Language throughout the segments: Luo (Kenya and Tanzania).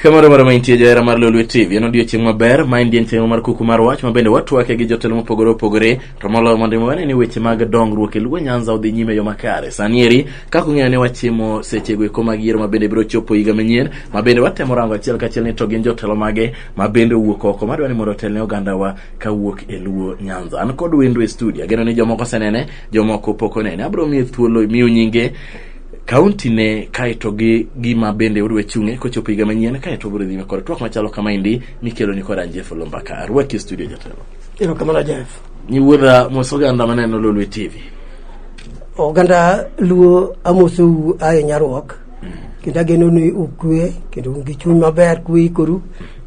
kamoro moro maintie johera mar lolwe tv en odiochieng' maber ma en dienchieng' mar kuku mar wach ma bende watwake gi jotelo mopogore opogore to moloyo mondo imi wane ni weche mag dongruok e luo nyanza odhi nyime yo makare sani eri kaka ung'eyo ni wachimo sechego eko mag yiero ma bende biro chopo higa manyien ma bende watemo rango achiel kachiel ni to gin jotelo mage ma bende owuok oko madwa ni mondo otelne ogandawa kawuok e luo nyanza an kod wendo e studio ageno ni jomoko osenene jomoko pok onene abiro miye thuolo miyo nyinge kaunti ne kaeto gi gima bende odwa chung'e kochopo higa manyien kaeto obiro dhi kod twak machalo kama endi mikelo ni kod Angie Fulu Mbaka arwaki e studio jatelo erokamano Jeff nyiwuodha mos oganda maneno Lolwe TV oganda luo amosou aye nyaruok kendo ageno ni ukwe kendo un gi chuny maber kuikoru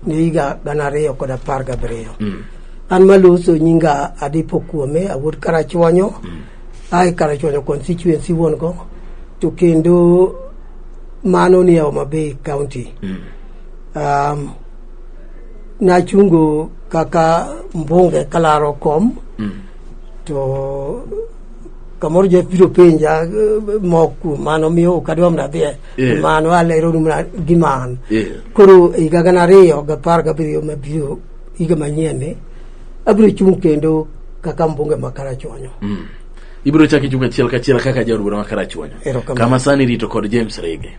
ne higa gana ariyo kod apar gabiriyo mm. an maloso nyinga adipo kuome awuod karachuonyo mm. ae karachuonyo constituency wuon go to kendo mano ni e Homa Bay County mm. um, nachungo kaka mbunge kalaro kom mm. to kamoro jef biro penja eh, mok kuom mano miyo ok adwa mana dhiye Yeah. mano aleronu mana gi man Yeah. koro e higa gana ariyo gapar gabiriyo mabiro higa manyienni abiro chung' kendo kaka mbunge ma karachuonyo ibiro chako ichung' achiel kachiel kaka jaod bura ma karachuonyo Erokamano. kama sani rito kod james rege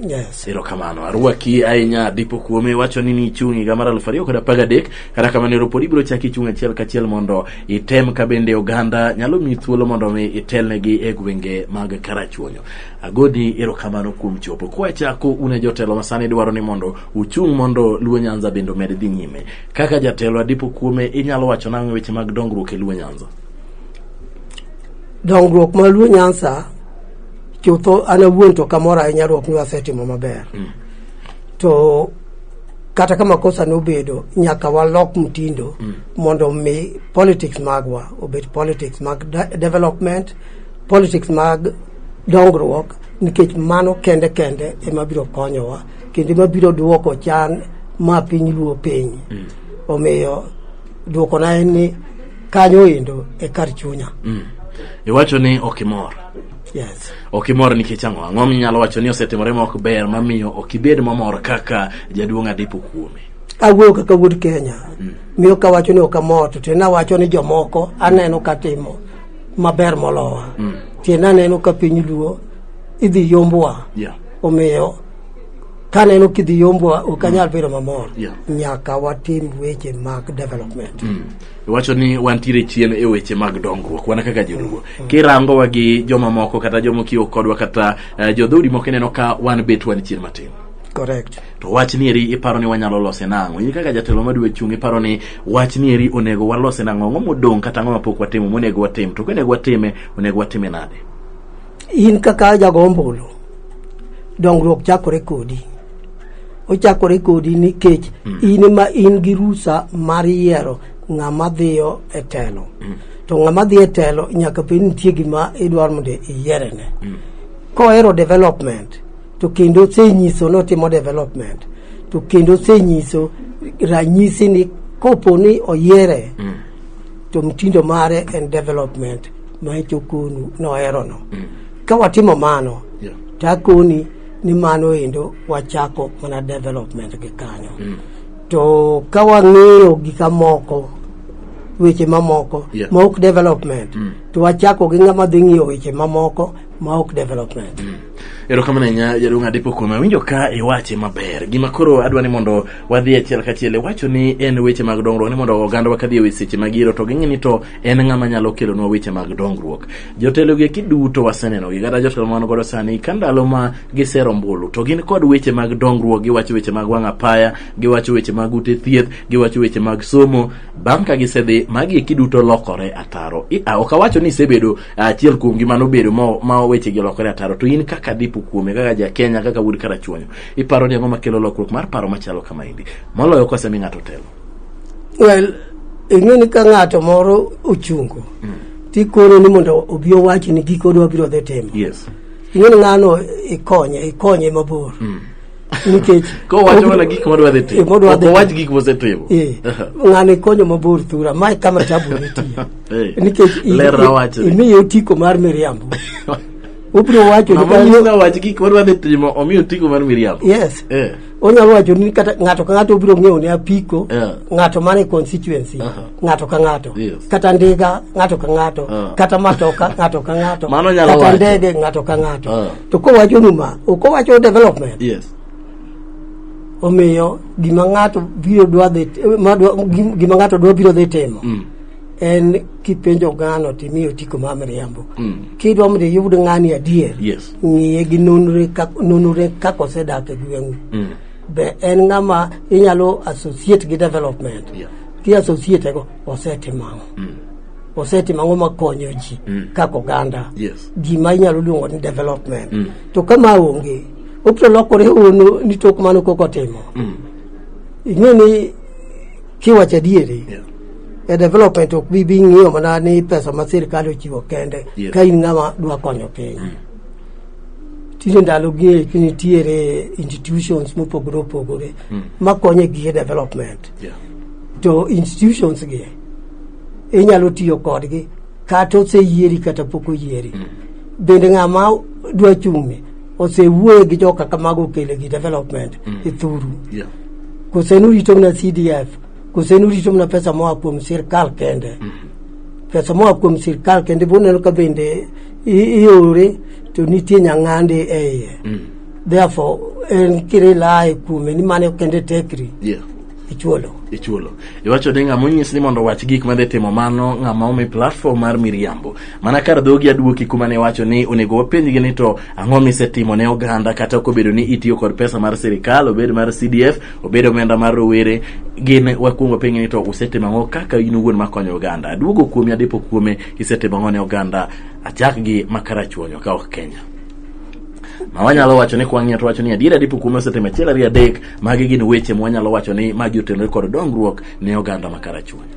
Yes. erokamano arwaki ahinya dipo kuome wacho ni nichung' higa mar aluf ariyo kod apar gadek kata kamano ero pod ibiro chak ichung' achiel kachiel mondo item ka bende oganda nyalo miyi thuolo mondo mi itelnegi e gwenge mag karachuonyo agoni erokamano kuom chopo kwachako un e jotelo ma sani dwaro ni mondo uchung' mondo luo nyanza bende omed dhi nyime kaka jatelo adipo kuome inyalo wacho nang'o e weche mag dongruok e luo nyanza dongruok ma luo nyansa chutho an awuon to kamoro ahinya ruok ni wasetimo maber mm. to kata ka makosa nobedo nyaka walok mtindo mm. mondo mi politics magwa obed politics mag de development politics mag dongruok nikech mano kende kende ema biro konyowa kendo ema biro duoko chan ma piny luo piny mm. omiyo duokona en ni kanyo endo e kar chunya mm. iwacho ni ok imor Yes. Ok imor nikech ang'o? Ang'o minyalo wacho ni osetimore ma ok ber mamiyo ok ibed mamor kaka jaduong' Adipo kuome? Awuoyo kaka wuod Kenya. Mm. Miyo ka wacho ni ok amor to tena wacho ni jomoko aneno ka timo maber molowa. Mm. Tena aneno ka piny luo idhi yombwa. Yeah. Omiyo ka neno kidhi yombwa ok anyal mm. bedo mamor. Yeah. Nyaka watim weche mag development. Mm. iwacho ni wantiere chien e weche mag dongruok wana kaka joluo kirangowa gi joma moko kata joma okiwo kodwa kata uh, jodhoudi moko ineno ka wan bet wan chien matin correct to wach nieri iparo ni wanyalo lose nang'o in kaka jatelo madwe chung' iparo ni wach nieri onego walose nang'o ang'o modong' kata ang'o mapok watimo monego watim to konego watime onego watime nade in kaka jago ombulu dongruok chakore kodi ochakore kodi nikech mm. in ma in gi rusa mar yiero ng'ama dhiyo e telo mm. to ng'ama dhiyo e telo nyaka bed nitie gima idwaro mondo iyierene mm. kohero development to kendo osenyiso notimo development to kendo osenyiso ranyisi ni kopo ni oyiere mm. to mtindo mare en development ma ichokonu noherono mm. ka watimo mano yeah. to akoni ni mano endo wachako mana development gi kanyo mm. to ka wang'iyo gi kamoko weche mamoko yeah. ma ok development mm. to wachako gi ng'ama dhi ng'iyo weche mamoko ma ok development mm. erokamano ahinya jaduong' adepo kuome awinjo ka iwache maber gima koro adwa ni mondo wadhi achiel kachiel iwacho ni en weche mag dongruok ni mondo ogandawa kadhi e seche mag yiero to ging'e ni to en ng'ama nyalo kelonwa weche mag dongruok jotelo gi kiduto waseneno gi kata jotelo man godo sani ka ndalo ma gisero ombulu to gin kod weche mag dongruok giwacho weche mag wang' apaya giwacho weche mag ute thieth giwacho weche mag somo bang' ka gisedhi magi kiduto lokore ataro ok awacho ni isebedo achiel kuom gi mano bedo ma weche gi lokore ataro to in kaka dipo kuome kaka ja Kenya kaka wuod karachuonyo iparo ni ang'o makelo lokruok mar paro machalo kama endi moloyo kosemi ng'ato telo well ing'e ni ka ng'ato moro ochungo mm. tikone ni mondo obi owachi ni giko dwa biro dhi timo yes. ing'e ni ng'ano ikonye ikonye mabor mm. nikech kowacho mana gik modwa dhi timo owach gik mosetimo eh, ng'ano ikonyo mabor thura ma kama tabu nitie nikech imiye otiko mar miriambo obiro wacho ni wach gik modwa dhi timo omiyo otiko mar miriambo yes eh. onyalo wacho ni kata ng'ato ka ng'ato obiro ng'eyo ne apiko Yeah. ng'ato mane constituency Aha. ng'ato ka ng'ato Yes. kata ndiga ng'ato ka ng'ato Ah. kata matoka ng'ato ka ng'ato Mano nyalo kata wacho. ndege ng'ato ka ng'ato Ah. to kowacho ni ma ok owacho development yes omiyo gima ng'ato biro dwa dhi ma dwa- gim- gima ng'ato dwa biro dhi timo Mm. en kipenjo ng'ano timiyo tiko ma miriambo Mm. kidwa mondo iyud ng'ani adier yes ng'iye gi nonre kak- nonore kaka osedak e gweng'u be en ng'ama inyalo associate gi development Yeah. ki associate go osetimo ang'o osetimo ang'o makonyo ji kaka oganda Yes. gima inyalo luongo ni development to kama onge obiro lokore ono ni tok mano kok otimo ing'e ni Kiwacho adieri, yeah. e development ok bi bi ng'iyo mana ni pesa ma sirkal ochiwo kende yeah. ka in ng'ama dwa konyo piny mm. tinde ndalogi eki nitiere institutions mopogore opogore mm. makonyo e gige development yeah. to institutions gi inyalo tiyo kodgi kata oseyieri kata pok oyieri mm. bende ng'ama dwa chung'ni osewuoye gi joka kamago okele gi development mm. ithuru yeah. kose nurito mna cdf kose nurito mna pesa moa kuom sirkal kende mm. pesa moa kuom sirkal kende boneno ka bende i- iore to nitie nyang'ande e iye mm. therefore en kire laye kuome ni mane kende tekri yeah. ichuolo ichulo iwacho ni ng'ama onyis ni mondo owach gik madhi timo mano ng'ama omi platform mar miriambo mana kar dhogi aduoki kuma ne wacho ni onego wapenjgi ni to ang'o misetimo ne oganda kata ok obedo ni itiyo kod pesa mar sirikal obed mar cdf obed omenda mar rowere gin wakwongo penjo ni to usetimo ang'o kaka in owuon makonyo oganda aduogo kuomi adipo kuome isetimo ang'o ne oganda achak gi makarachuonyo ka ok kenya ma wanyalo wacho ni kwang'iyo to wacho ni adiera dipo kuome osetimo achiel ariyo adek magi gin weche ma wanyalo wacho ni magi otenore kod dongruok ne oganda ma karachuonyo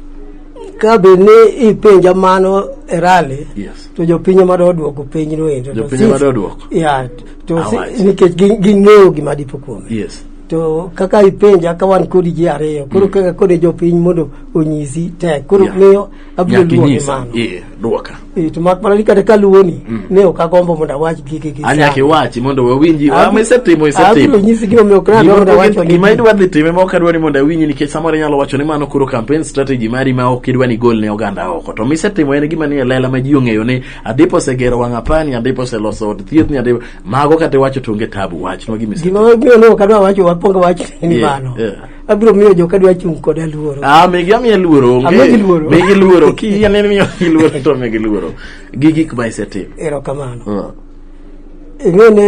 ka be ni ipenja mano e rally yes. to jopiny ema do odwoko piny no endo Jopiny ema do odwoko? yeah, to si- Awachi. nikech gi- ging'eyo gima dipo kuome yes to kaka ipenja ka wan kodi ji ariyo koro kaka kode jopiny mondo onyisi tek koro Yeah. miyo abiro luonge Nyakinyisa. mano Ee, dwoka. Eh, to mak mana ni kata kaluwoni ne ok agombo mondo awach gige gi Anyaka sani. iwachi mondo wawinji. Abi- Ama isetimo, isetimo. Abiro nyisi gima omiyo ok nadwa Gima- mondo awach gima wagi. idwa dhi time ma ok adwa ni mondo awinji nikech samoro inyalo wacho ni mano koro campaign strategy mari ma ok idwa ni gol ne oganda oko to misetimo en gima nie lela ma ji ong'eyo ni adipo osegero wang' apani adipo oseloso od thieth ni adipo mago kata iwacho to onge tabu wachnwa gima ise- Gima omiyo ne ok adwa wacho wakwongo wach ni Yeah, mano. yeah. abiro miyo joka dwa chung' koda luoro ah migi amiye luoro onge Amigi luoro. migi luoro ki ane miyo gi luoro to migi luoro gi gik ma isetimo erokamano Ah. ing'e ni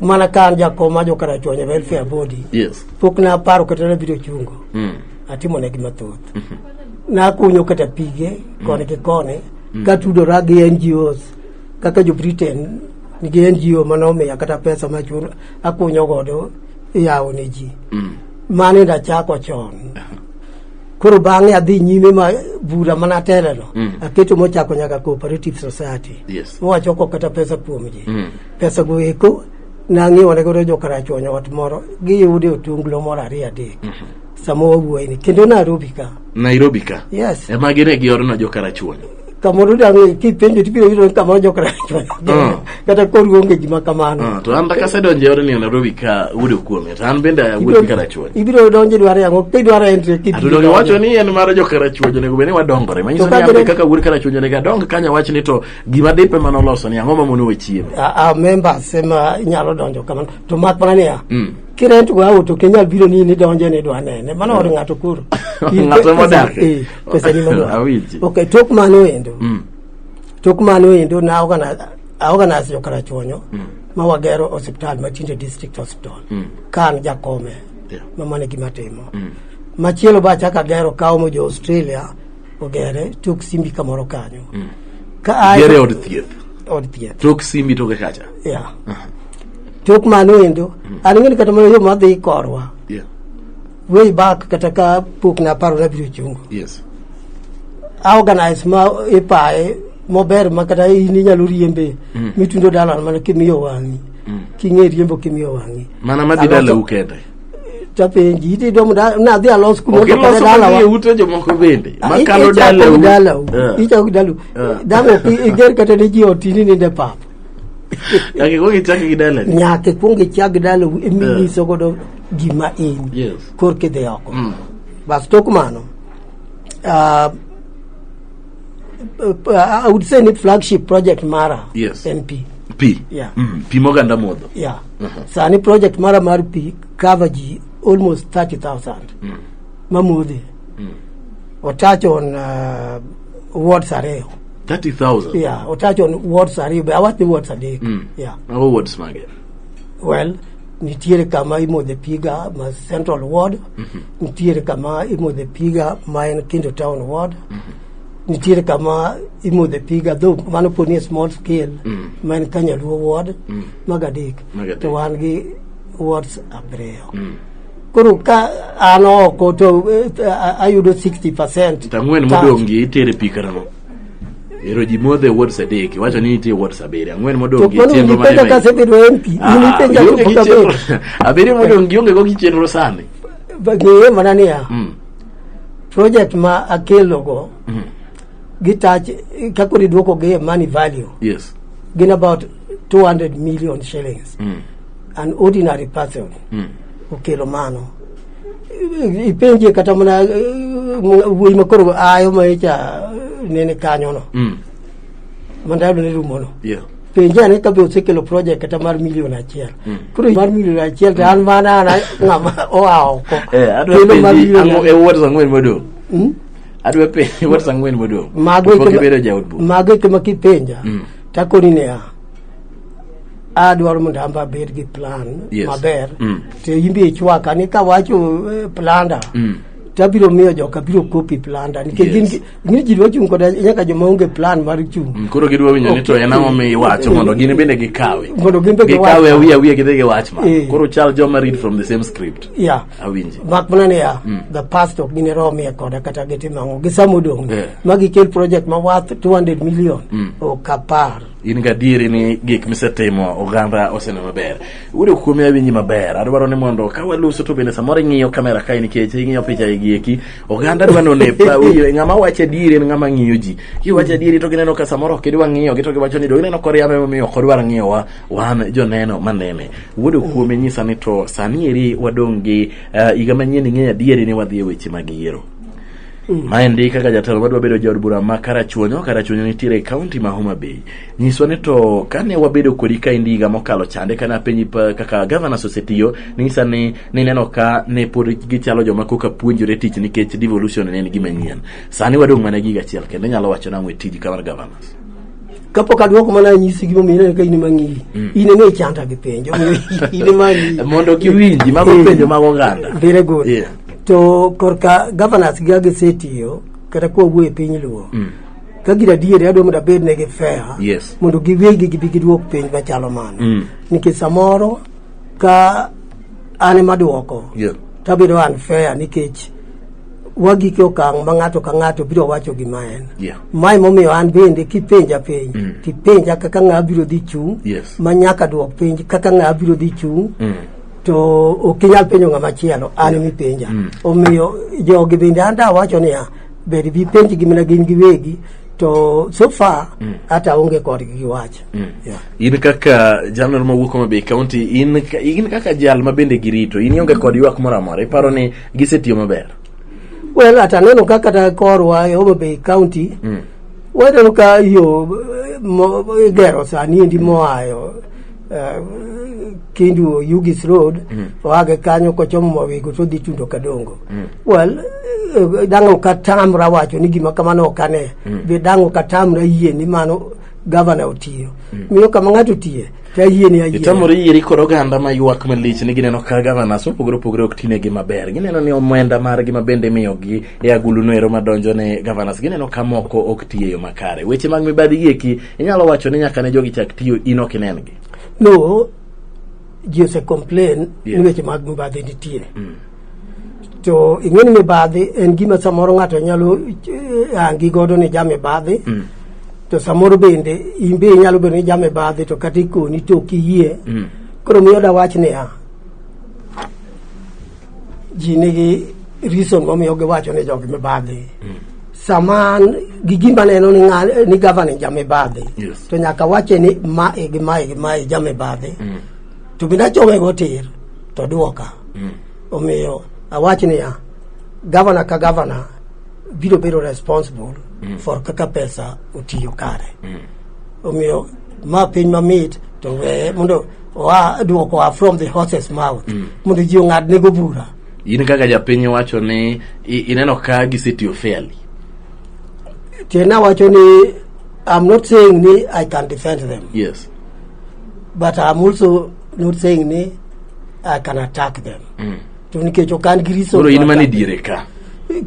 mana ka an jakom ma jokarachuonyo e welfare abodi yes pok naparo kata nabiro chungo mm. atimo negi mathoth nakunyo kata pige koni gi koni katudora gi ngos kaka jo britain nigi ngo mane omiya kata pesa machun akunyo godo yawo ne ji mm. mano enda chako chon koro bang'e adhi nyime ma bura mana teleno mm. aketo mochako nyaka cooperative society yes. mowachoko kata pesa kuom ji mm. pesa go eko nang'iwo ne godo jokarachuonyo ot moro giyude otunglo moro ariyo adek mm -hmm. sama wawuoyini kendo nairobi ka nairobi ka yes ema gine giorona jokarachuonyo kamoro dang' kipenjo tibiro yudo ni kamoro jok rach Mm. kata kori onge gima kamano Ah, to an dak asedonjo e odni e Nairobi ka wuodo kuome to an bende awuodo gi karachuonyo ibiro donjo idwaro yango kidwaro entry kid- atudoni wacho ni en mar jokarachuonyo onego bed ni wadongore manyiso To ni ka ambe bende- kaka wuod karachuonyo onego adong kanya wach ni to gima dipe mane oloso ni ang'o mamono we chiemo a a members ema inyalo donjo kamano to mak mana niya Mm. kirent go auto ok inyal biro ni in idonjo ni idwa nene mano od ng'ato koro Ng'ato modak. Eh. pesa ni mama Awiji. okay tok mano endo Mm. tok mano endo na organize I organize jo karachuonyo ma wagero hospital ma tinde district hospital ka an jakome Yeah. ma mano e gima timo machielo ba chaka gero kawo mo jo Australia ogere tok simbi kamoro kanyo ka ae- Gere od thieth. od thieth Tok simbi toke kacha. yeah. tok mano endo an ng'eni kata mana yo madhi korwa Yeah. way back kata ka pok na paro nabiro chungo yes aorganize ma ipaye mober ma kata in inyalo riembe mm. mitundo dalan mana kimiyo wang'i mm. king'e riembo kimiyo wang'i mana madhi dalau kende tapenji iti domo nadhi alos kumodokodalawa ute jomoko bende ah, makalo dalau dalau eh. ichako dalau eh. damo iger kata ne ji otini ninde pap nyaka ikwong ichak gi dalau nyaka ikwong ichak gi dalau iminyiso eh. godo gima in Yes. korka idhi oko bas tok mano ah, ah, I would say ni flagship project mara Yes. en pi Pi. Yeah. Mm. Pi moganda modho. yeah. sani project mara mar pi cover ji almost 30000 mamodhe otach on ah, wards ariyo 30,000. yeah, otach on wards ariyo be awach ni wards adek yeah. Mago wards mage. well nitiere kama imodhe piga ma central ward nitiere kama imodhe piga ma en kindo town ward nitiere kama imodhe piga dho mano po ni e small scale ma en kanyaluo ward mago adek Mago adek. to wan gi wards abiriyo koro ka an oko to eh, ayudo 60 percent To ang'wen modong' gi itere pi karang'o Ero ji modhe awards adek, iwacho ni nitie awards abiriyo, ang'wen modong' gi Mano chenro mane ipenja ka asebedo MP. In Ah, ipenja ionge ka gi pok abedo. chenro- abiriyo modong' gionge go gi chenro sani. Ng'eye mana niya, Mm. project ma akelogo Mm. gi touch kaka idwoko gi e money value Yes. gin about 200 million shillings. Mm. An ordinary person Mm. okelo mano. ipenje kata mana eh, wuoyi makoro ayo ma icha nene kanyono mm. mandayudo ni rumono yeah. penje ane kabe osekelo project kata mar milion achiel mm. koro mar milion achiel to an mana an ng'ama oa oko eh, kendo mar milion e wuot ang'wen modong' hmm? adwa penje wuot ang'wen modong' mago eke ma kipenja mm. takoni niya adwaro mondo amba abed gi plan Yes. maber Mm. to imbi ichwaka ni kawacho eh, planda Mm. tabiro miyo joka biro kopi planda nikech Yes. gin gi- ni ji dwa chung' koda nyaka joma onge plan mar chung' Mm, koro gidwa winjo ni to en ang'o mi iwacho mondo gin bende gikawe Mondo gin be giwache. gikawe awiye awiye gidhi giwach ma Eh. koro chal joma read from the same script ya awinji mak mana niya the past ok gine romie koda kata gitim ang'o gisamo dong Yeah. ma gikel project ma worth 200 million ok apar in gadieri ni gik misetimo oganda osene maber udo kuomi awinji maber adwaro ni mondo ka waluso to bende samoro ing'iyo kamera kae nikech ing'iyo picha igi eki oganda dwa none pa wiyo ng'ama wacho adieri en ng'ama ng'iyo ji kiwacho adieri to gineno ka samoro ok idwa ng'iyogi to giwacho ni do gineno koriambe momiyo ok odwar ng'iyowa wan joneno manene wuodo kuome nyisa ni to sani eri wadong' gi eh, higa manyien ing'eyo adieri ni wadhi e weche mag yiero Mm. Maendi kaka jatelo madwa bedo jaod bura ma Karachuonyo, Karachuonyo nitiere e kaunti ma Homa Bay. Nyiswa ni to kane wabedo kodi ka indi higa mokalo chande kane apenji kaka governors osetiyo, ning'isa ni nineno ka ne pod gichalo joma koka puonjore tich nikech devolution ne en gima nyien. Sani wadong' mana giga achiel kendo nyalo wacho nang'o e tiji kamar governors. kapok aduoko mana anyisi gima omiyo ineno ka in ema ng'iyi mm. in ema ichanda gi penjo in ema ng'iyi mondo giwinji mago eh, penjo mag oganda very good yeah. to korka governors gi agisetiyo kata kowuo e piny luo mm. ka gin adieri adwa mondo abed negi fair yes. mondo giwegi gibi giduok piny machalo mano mm. nikech samoro ka an ema duoko yeah. tabedo unfair nikech wagik e okang' ma ng'ato ka ng'ato biro wacho gima en yeah. mae momiyo an bende kipenja piny mm. tipenja kaka ng'a biro dhi chung' yes. ma nyaka duok penj kaka ng'a biro dhi chung' mm. to ok inyal penjo ng'ama chielo an yeah. mipenja mm. omiyo jogi bende an da wacho niya bed bi penj gi mana gin giwegi to so far mm. hata mm. onge kodgi gi wach mm. yeah. in kaka jalno mawuok Homa Bay County in, in kaka jal ma bende girito in ionge kod ywak moro amora iparo ni gisetiyo maber well at aneno ka kata korwa e Homa Bay County mm. waneno ka yo igero sani endi moayo eh, Kindu Yugis Road mm. oage kanyo kochomo Mawego to dhi Tundo Kadongo mm. well eh, dang' ok atamra wacho ni gima kamano ok ane mm. be dang' ok atamra yie ni mano gavana otiyo mm. miyo kama ng'ato otiye Ayie ni ayie. Itamore yie ri koro oganda ma ywak malich ni gineno ka governors mopogore opogore ok tinegi maber. Gineno ni omenda margi ma bende imiyogi e agulu no ero madonjo ne governors gineno ka moko ok tiyo e yo makare. Weche mag mibadhi gieki inyalo wacho ni nyaka ne jogi chak tiyo in ok inengi. No, ji ose complain Yes. ni weche mag mibadhi nitie. to ing'e ni mibadhi en gima samoro ng'ato nyalo eh, hangi godo ni ja mibadhi mm. to samoro bende in be inyalo bedo ni ja mibadhi to kata ikoni to ok iyie mm. koro miyo dawach niya ji nigi reason momiyo giwacho ni jogi mibadhi mm. sama an gi gima neno ni, nga, ni gavana jamibadhi yes. to nyaka wache ni mae gi mae gi mae jamibadhi mm. to bende achowe go tir to duoka mm. omiyo awach niya gavana ka gavana biro bedo responsible mm. for kaka pesa otiyo kare mm. omiyo ma piny mamit to weye mondo oa duoko oa from the horses mouth mm. mondo ji ong'ad nego bura in kaka japiny wacho ni ineno ka gisetiyo fairly tena wacho ni i'm not saying ni i can defend them yes but I'm also not saying ni I can attack them mm. to nikech ok an gi reason koro in mane diere ka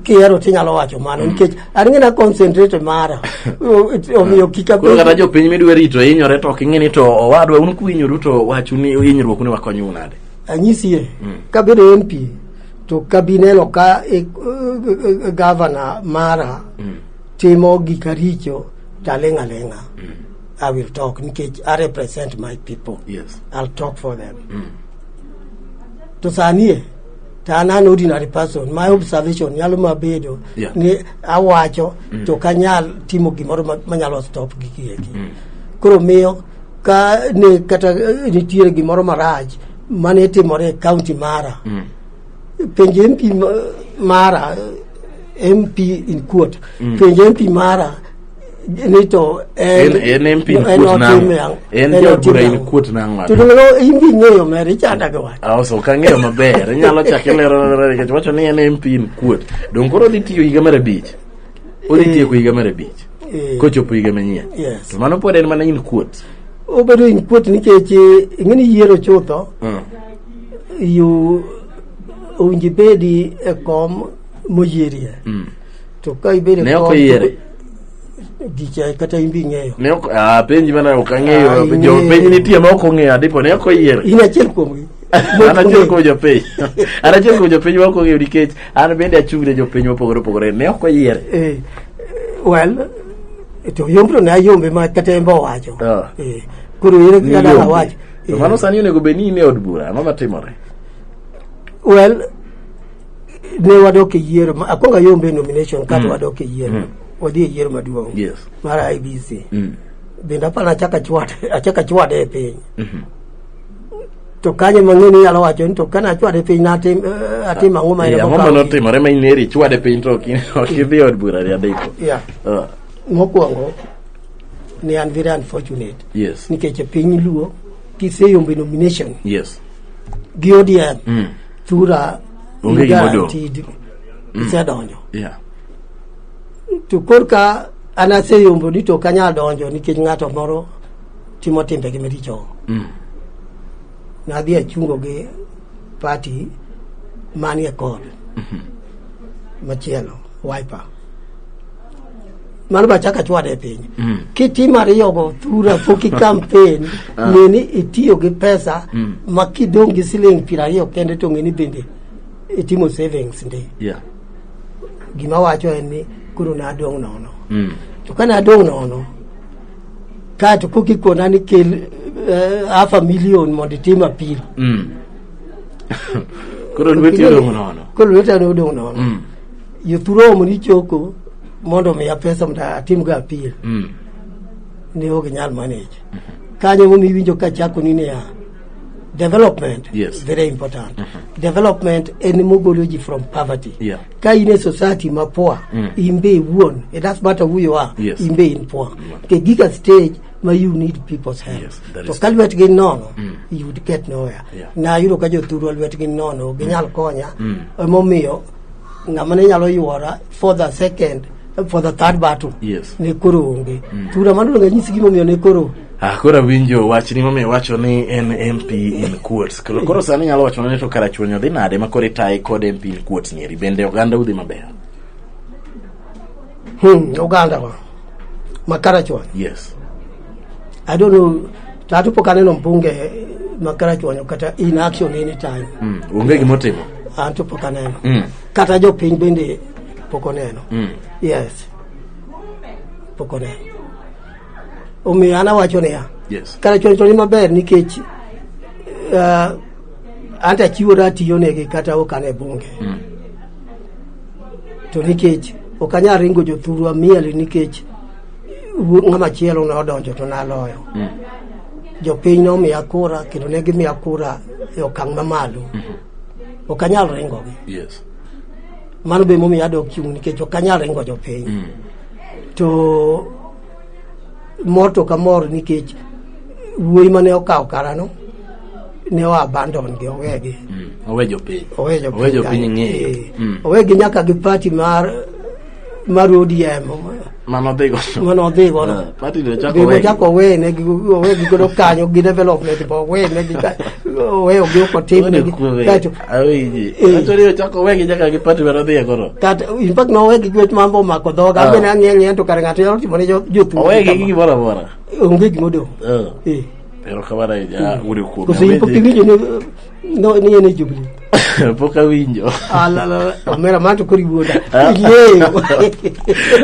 kihero tinyalo wacho mano mm. nikech an ng'e na concentrate mara omiyo kik koro kata jopiny midwa rito hinyore to ok ing'e ni to owadwa un kuhinyoru to wachu ni hinyruoku ni wakonyu nade anyisie mm. kabedo mp to kabineno ka e, e, e, gavana mara mm. timo gika richo taling' aling'a mm. I will talk nikech I represent my people. Yes. I'll talk for them. Mm. To sanie to an an ordinary person my observation nyalo mabedo yeah. ni awacho mm. to kanyal timo gimoro manyalo stop gigi eki. Mm. Koro miyo ka ne kata eh, nitiere gimoro marach mane timore e kaunti mara mm. penj mp mara eh, mp in court mm. penj mp mara ni to en en en pin en kuot nango otim yang- en en jo otim bura in yang. kuot nango to dong lo in gi ng'eyo mer ichanda gi wach aoso ka ng'eyo maber inyalo chake lero lero nikech wacho ni en en pin kuot dong koro odhi tiyo higa mar abich odhi tieko higa mar abich Eh. kochopo higa manyien Yes. to mano pod en mana in kuot obedo in kuot nikech eh, ing'eni yiero chutho Mm. you owinji bedi e kom moyierie Mm. to ka ibedo Ne ok oyiere. gicha kata imbi ing'eyo Ne ok ah penji mana ok Ah, ang'eyo. Jo ing'eyo. penji nitie ma ok ong'eyo adipo ne ok oyiere. in achiel kuomgi An achiel kuom jopiny. An achiel kuom jopiny ma ok ong'eyo nikech an bende achung' ne jopiny mopogore opogore. Ne ok oyiere. Eh, well to yombro ne ayombe ma kata embe owacho Ah. Eh, koro ere Ni kaka dang' yombe. awach To Eh, mano sani onego bed ni in e od bura. Ang'o matimore? well ne wadok e yiero ma- akwongo ayombe e nomination kato wadok e yiero wadhi e yiero maduong' Yes. mar ibc Mm. bende aparo achaka chwade achaka chwade e piny to kanye mang'e ni inyalo wacho ni to kane achwade e piny natim eh, atim ang'o ma en Yeah, ang'o ma emokawo- notimore ma in eri chwade piny to ok in- ok idhi e od bura ri adeko Yeah. Ah, mokwongo ne an very unfortunate yes nikech e piny luo kiseyombe nomination yes gi odm Mm. thura Onge gima odong'. guaranteed isedonjo Yeah. to korka an aseyombo ni to ok anyal donjo nikech ng'ato moro timo timbegi maricho Mm. nadhi achungo gi pati manie kod machielo wiper mano machak achwad e piny mm. kitimo ariyogo thura pok ikampen ah. ng'e ni itiyo gi pesa mm. ma kidong' gi siling' piero ariyo kende to ng'e ni bende itimo savings ndi yeah. gima wacho en ni koro nadong' nono mm. to ka nadong' nono kaeto pok ikona ni kel uh, half a million mondo itim apil mm. koro lweti odong' nono koro lweti odong' nono mm. Yuturomo ni choko mondo omiya pesa mondo atimgo apil Mm. ne ok nyal manage. Kanyo momi winjo ka chako ni niya development Yes. very important. Development en mogolo ji from poverty. Yeah. Ka in e society ma poor, Mm. in be iwuon, it does matter who you are, Yes. in be in poor. The giga stage ma you need people's help. Yes, that to is ka lwetgi nono, you would get nowhere. Yeah. Na yudo ka jothurwa lwetgi nono, ginyal konya. Mm. Emomiyo ng'ama ne nyalo yuora for the second for the third battle Yes. ne koro onge tura mano donge nyisi gimomiyo ne koro Ah, koro awinjo wach ni momiyo wacho ni en mp in quotes koro, koro sani nyalo wacho ni to karachuonyo dhi nade ma koro itaye kod mp in quotes nieri bende oganda udhi maber hmm, ogandawa makarachuonyo yes I don't know tatu pok aneno mbunge ma karachuonyo kata in action any time Mm. Onge gima otimo. an to pok aneno Mm. kata jopiny bende pok oneno Mm. yes pok oneno omiyo an awacho niya Yes. karachuonyo to ni maber nikech uh, an to achiwora atiyonegi kata ok an e bunge Mm. to nikech ok anyal ringo jothurwa miel nikech ng'ama chielo ne odonjo to naloyo mm. jopiny nomiya kura kendo ne gimiya kura e okang' mamalo mm-hmm. ok anyal ringogi mano be momiyo adok chung' nikech ok anyal ringo jopiny mm. to mor to ka mor nikech wuoyi mane okawo karano ne oa abandon gi owegi mm. owe jopiny owegi nyaka gi pati mar mar ODM mano dhi gono mano dhi gono eh, party no chako we chako we ne gi we gi godo kanyo gi development bo we ne gi we ogi ko tim ne gi kacho awi kacho ri chako we gi nyaka gi party mano dhi gono kat in fact no we gi gwet mambo mako dhoga ah. be na ng'e ng'e to kar ng'ato yalo timo ne jotu we gi gi bora bora onge gi modo eh, eh. pero kamara ya uri kuom kosi ipo pingi ne no ne ne jubilee pok awinjo Alala, omera ma to koro iwuoda. Yieyo.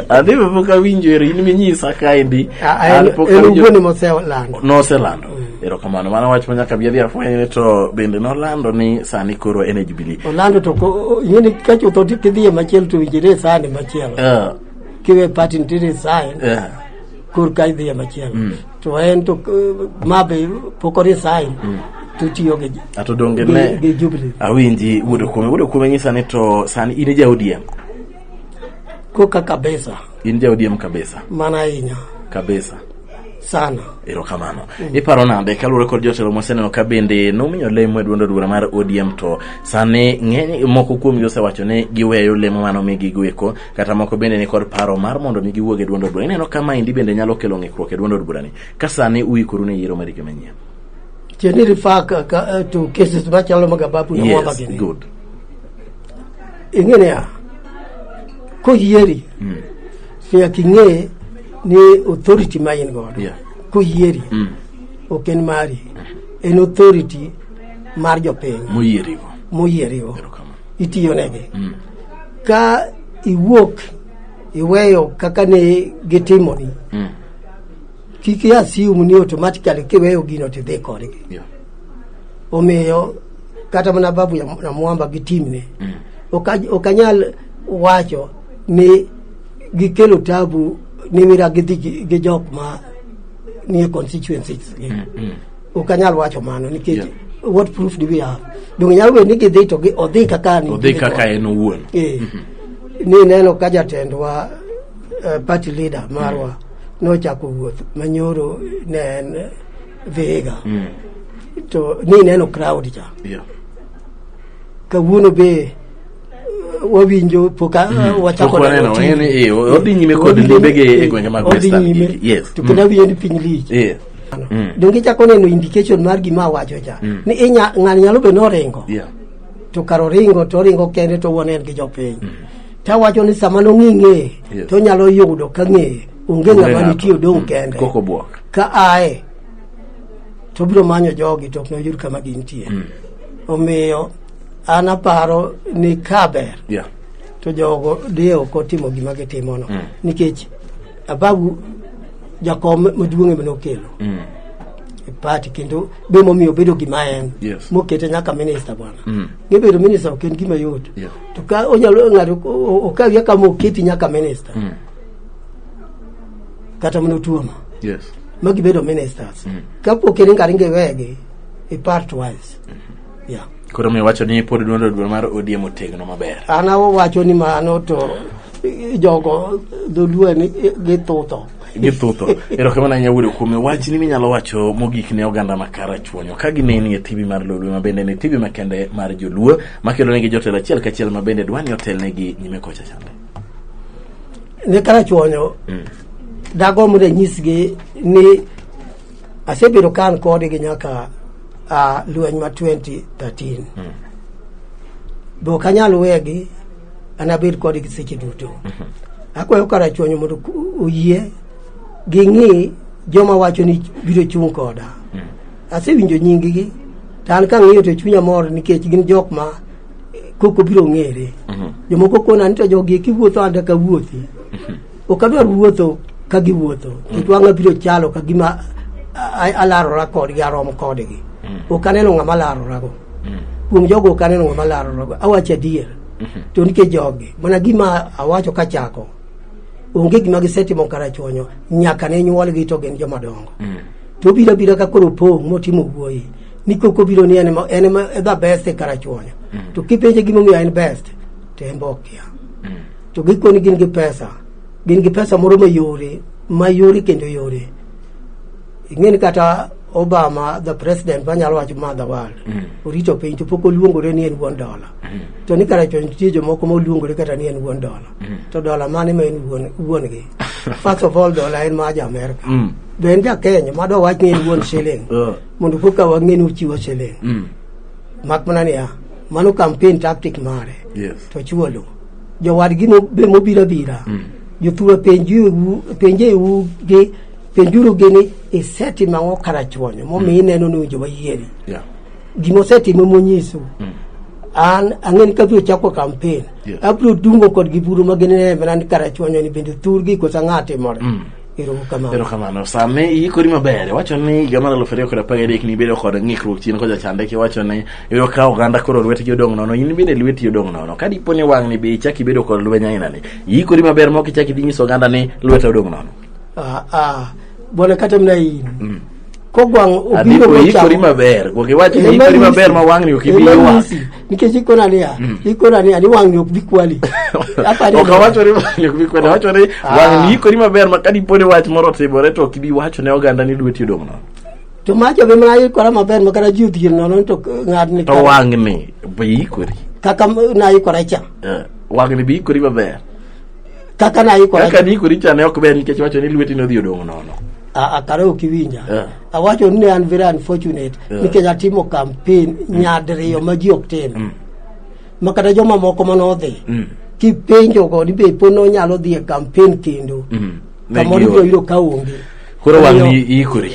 adhi be pok awinjo ero in minyisa kaendi Ah, ah, An pok En awinjo- wuone moselando. noselando erokamano mano wach manyaka bi adhi afwenyne to bende nolando ni sani koro en e jubilee Olando to ko- ing'eni ka chuth oti kidhiye machielo to winjire sani machielo. Eh, Kiwe pati nitiere sign eh. korka idhiye machielo. to en to eh, ma be pok orisain tutiyo gi ato donge gi- ne gi Jubilee. awinji wuod okume wuod okume nyisa ni to sani in ja odm koka kabisa in ja odm kabisa mana ahinya kabisa sana erokamano iparo nade kaluwore kod jotelo moseneno ka bende nomiyo lemo e duond od bura mar odm to sani ng'eny moko kuomgi osewacho ni giweyo lemo manomigigo eko kata moko bende ni kod paro mar mondo mi giwuog e duond od bura ineno ka maendi bende nyalo kelo ng'ikruok e duond od burani ka sani uikoru ne yiero marike manyien Can you refer ka, ka, uh, to cases machalo mag Ababu na Mwamba yes gini? good Ing'e niya, koyieri nyaka ing'e ni authority ma in godo Yeah. koyieri ok en mari en authority mar jopiny moyierigo moyierigo erokamano itiyonegi mm. ka iwuok iweyo kaka ne gitimoni mm. kik iasium ni automatically kiweyo gino tidhi kodgi yeah. omiyo kata mana babu ya na mwamba gi timne mm. ok anyal wacho ni gikelo tabu ni wira gidhi gi jok ma nie constituencies gi mm. mm. ok anyal wacho mano nikech yeah. what proof do we have donge nyalo bedo ni gidhi to odhi kaka ni odhi kaka en owuon eh. mhm. ni neno ka jatendwa uh, party leader marwa mm. nochako wuoth manyoro ne en vihiga mm. to ni neno crowd cha yeah. kawuono be wawinjo pok mhm. wachako neno odhi nyime kod limbege e gwenge mag western yes to kendo mhm. wiye ni piny lich Mm. Donge ichako neno indication mar gima awacho cha mm. ni inya ng'ani nyalo bedo noringo yeah. to kar oringo to oringo kende to wuon en gi jopiny mm. tawacho ni sama nong'i ng'eye yes. to nyalo yudo ka ng'eye onge ng'ama nitie odong' mm. kende ka aye to biro manyo jogi to ok noyud kama gintie mm. omiyo an aparo ni kaber yeah. to jogo diye ok otimo gima gitimono mm. nikech ababu jakom maduong'e mane okelo mm. e party kendo be momiyo obedo gima en yes. mokete nyaka minista bwana mm. ngebedo minista ok en gima yot yeah. to ka onyalo ng'ato okawi aka moketi nyaka minista mm. kata mana otuono yes. ma gibedo ministers mm. kapok en ngaringe wegi e part wise mm -hmm. Yeah. Koro mi wacho ni pod duondo duol mar ODM otegno maber. An awacho ni mano to jogo dholuo ni githutho. Githutho. Erokamano ahinya wuodo kuome. Wach ni minyalo wacho mogik ne oganda ma Karachuonyo ka gineni e TV mar Lolwe ma bende ne TV makende mar Joluo makelo negi jotelo achiel kachiel ma bende dwani otelnegi nyime kocha chande. Ne Karachuonyo mm. dagomb ranyisgi ni Asebedo ka an kodgi nyaka uh, lweny ma 2013 mm. be ok anyal wegi anabed kodgi seche duto mm -hmm. akwayo karachuonyo mondo oyie ging'i joma wacho ni biro chung' koda mm. asewinjo nyinggi to an kang'iyo to chunya mor nikech gin jok ma koko biro ng'ere mm -hmm. jomoko kona ni to jogi kiwuotho anda kawuothi mm -hmm. ok adwar wuotho ka giwuotho kik wang'a biro chalo ka gima a- a- alarora kodgi arom kodgi ok aneno ng'ama larorago kuom jogo ok aneno ng'ama larorago awacho adier to nikech jogi mana gima awacho kachako onge gima gisetimo karachuonyo nyaka ne nyuolgi to gin joma dongo to obiro abira ka koro opong' motimo wuoyi ni koko obiro ni en ema- en ema the best e karachuonyo to kipenje gimomiyo en best to en be okia To gikoni gin gi pesa, gin gi pesa moro mayore, mayore kendo yore. Ing'eni kata Obama the president manyalo wacho ma the world mm. orito piny to pok oluongore ni en wuon dola mm. to ni kara chon nitie jomoko ma oluongore kata ni en wuon dola mm. to dola mane ma en wuon gi first of all dola en ma ja Amerika mm. be en ja Kenya ma do wach ni en wuon shilling uh. mondo koka wang'e ni ochiwo shilling mm. mak mana niya mano campaign tactic mare yes. to chuolo jowadgi no- be mobiro abira jothuro penjuru penjeu gi penjuru gi ni isetimo ang'o karachuonyo momiyo ineno ni owinjo wayieri Yeah. gima osetimo monyisu an ang'eni ka biro chako kampen Yeah. abiro dungo kodgi buru ma ginene mana ni karachuonyo ni bende thurgi kosa ng'a timore Erokamano. Erokamano. Sami iikori maber. Wacho ni higa mar aluf ariyo kod apar gadek nibedo kod ng'ikruok chien kocha chande kiwacho ni iyudo ka oganda koro lwetgi odong' nono in bende lweti odong' nono. Ka dipo ni wang'ni be ichak ibedo kod lweny ainani. Iikori maber mok ichak idhi nyiso oganda ni lweta odong' nono. Ah, ah. Bwana kata mna in. Mm. kogwang' obiro Adeko ikori mochamo maber. Gwang' iwach ni ikori maber ma wang'ni ok ibi ywak. nikech ikona niya ikona niya ni wang'ni ok bi kwali Apani- Ok awacho ni wang'ni ok bi kwali. Awacho ni Ah. wang'ni ikori maber ma ka dipo ni wach moro otimore to ok ibi wacho ne oganda ni dweti odong' nono. to macho be mana ikora maber ma kata ji odhier nono to ng'adni To wang'ni be ikori. kaka m- naikora cha Eh, Wang'ni be ikori maber. kaka na iko kaka ni iko richa ne ok ber nikech wacho ni lweti nodhi odong nono a kare ok iwinja yeah. awacho ni an very unfortunate yeah. nikech atimo campaign mm. nyadiriyo ma ji ok tim mm. ma kata joma moko ma nodhi mm. kipenjo go ni be po nonyalo dhi e campaign kendo mm. kamoro ibiro yudo ka onge koro wang' ni ikori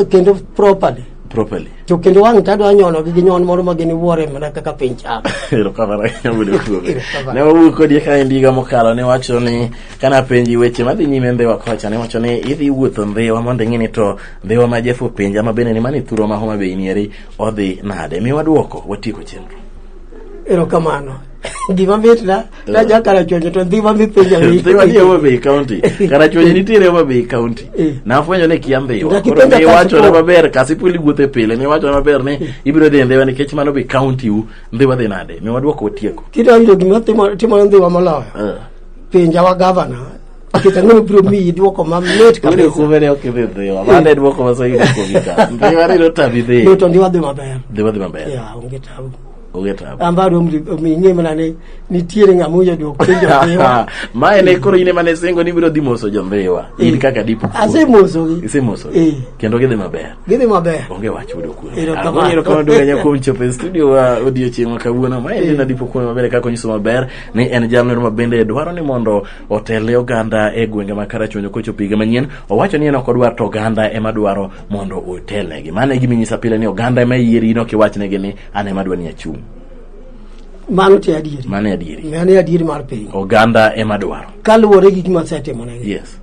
kendo properly properly. To kendo wang' to adwa nyonogi gi nyon moro ma gini wuore mana kaka piny chak. Erokamano ahinya wuod Okuobe. Erokamano. Ne wawuoyo kodi ka en higa mokalo ne wacho ni kana penji weche madhi nyime Ndhiwa kocha ne wacho ni idhi wuotho Ndhiwa mondo ing'e ni to Ndhiwa ma Jeff openja ma bende ni mani thuro ma Homa Bay nieri odhi nade. Mi wadwoko watieko chenro. Erokamano. gima mitna naja karachuonyo to ndhi ma mipenja Dhiwa ni Homa Bay County. Karachuonyo nitiere Homa Bay County. Eh. Nafwenyo ni kia Ndhiwa. Nyaka Koro ipenja niwachona Kasipul. maber, Kasipul iwuothe pile, niwachona maber ni ibiro dhi Ndhiwa nikech mano be county u, Ndhiwa dhi nade? Mi wadwoko otieko. kidonjo gima timo- timore ndhiwa moloyo Eh. penja wa gavana nikech ang'eyo biro miyi dwoko mamit Ule kabisa kumbe ne ok idhi Ndhiwa. Mano e dwoko ma Swahili kuomika. Ndhiwa ni notabi dhi. Ni to ndiwa dhi maber Ndhiwa dhi maber. ya onge tabu an b'a dɔn ɲɛ mana ne ni tiere nga mu yadu ko ndo be wa ma ene koro ine mane sengo ni biro di moso jombe wa eh. in kaka di puku ase moso gi ase moso eh. kendo gidhi maber gidhi maber onge wach udo ku ero kono duga nya kom chope studio wa odio chieng kawuono ma ene eh. na di puku maber kaka onyiso maber ni en jamno ma bende dwaro ni mondo otele oganda e gwenge ma kara chonyo kocho piga manyien owacho ni en ok odwar to oganda ema dwaro mondo otelnegi mane giminyisa pile ni oganda ema yierino kiwachnegi ni an ema adwa ni achung' mano te adieri mano e adieri mano e adieri mar piny oganda ema dwaro kaluwore gi gima asetimonegi yes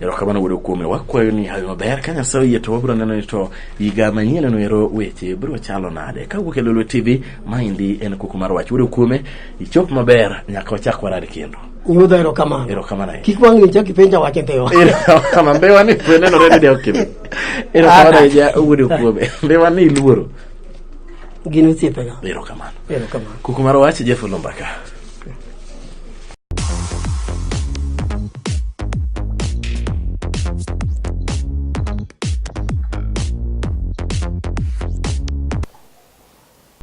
erokamano wuodo kuome wakwayo ni hawi maber ka nyasaye oyie to wabiro neno ni to higa manyieneno ero weche biro chalo nade ka wuok e lolwe tv maendi en kuku mar wach wuodo kuome ichop maber nyaka wachak warad kendo nyudha erokamano erokamano ahinya kik wang'ni chak ipenja wach ntewa erokamano mbewa ni nenore ni de ok ibi erokamano ahinya wuodo kuome mbewa ni iluoro gin osiepega erokamano erokamano kuku mar wach jeff olombaka